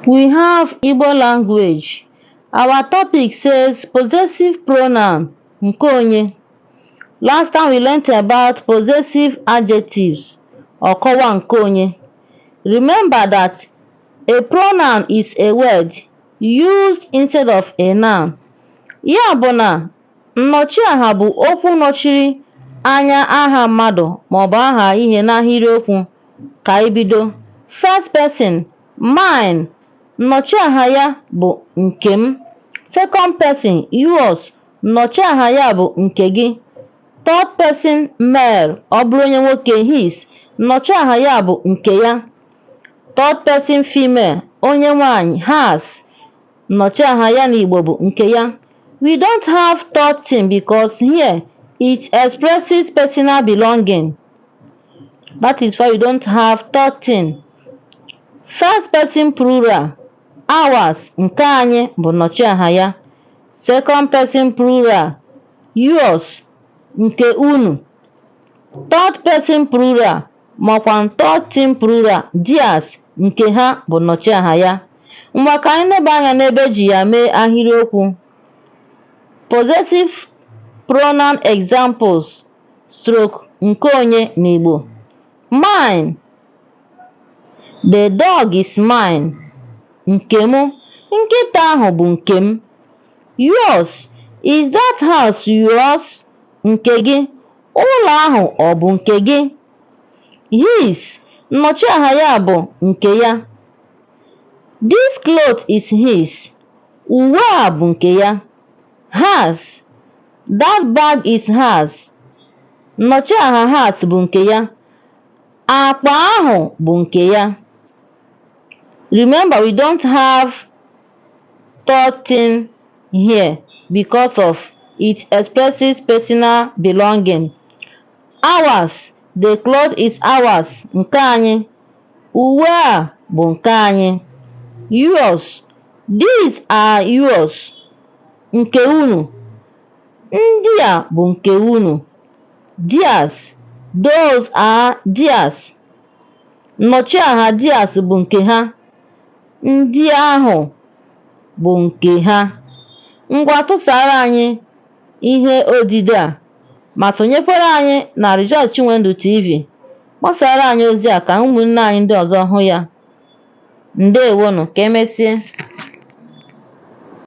We have Igbo language. Our topic says possessive pronoun nke onye. Last time we learnt about possessive adjectives ọkọwa nke onye. Remember that a pronoun is a word used instead of a noun. Ya bụ na Nnọchiaha bụ okwu nọchiri anya aha mmadụ maọbụ aha ihe n'ahịrịokwu. Ka anyị bido. First person, Mine, nnọchiaha ya bụ nke m. Second person, Yours, nnọchiaha ya bụ nke gị. Third person, Male, ọ bụrụ onye nwoke, His, nnọchiaha ya bụ nke ya. Third person, Female, onye nwaanyị, Hers, Nnọchiaha ya n'Igbo bụ nke ya. We don't have third thing because here it expresses personal belonging. That is why we don't have third thing. First person plural, ours, nke anyị bụ nnọchiaha ya. Second person plural, yours, nke unu. Third person plural makwa third thing plural, theirs, nke ha bụ nnọchiaha ya. Ngwa ka anyị leba anya n'ebe e ji ya mee ahịrịokwu. Possessive pronoun examples stroke nke onye n'Igbo. Mine, the dog is mine, nke m, nkịta ahụ bụ nke m. Yours, is that house yours, nke gị, ụlọ ahụ ọ bụ nke gị? His, nnọchiaha ya bụ nke ya. This cloth is his, uwe a bụ nke ya. Hers, that bag is hers, nnọchiaha hers bụ nke ya. Akpa ahụ bụ nke ya. Remember, we don't have third thing here because of it expresses personal belonging. Ours, the cloth is ours, nke anyị, uwe a bụ nke anyị. Yours, these are yours, nke unu, ndị a bụ nke unu. Theirs, those are theirs, nnọchiaha theirs bụ nke ha, ndị ahụ bụ nke ha. Ngwa tụsara anyị ihe odide a ma sonyekwara anyị na Rejoice Chinwendu TV. Kpọsara anyị ozi a ka ụmụnne anyị ndị ọzọ hụ ya. Ndewonụ, ka emesịa.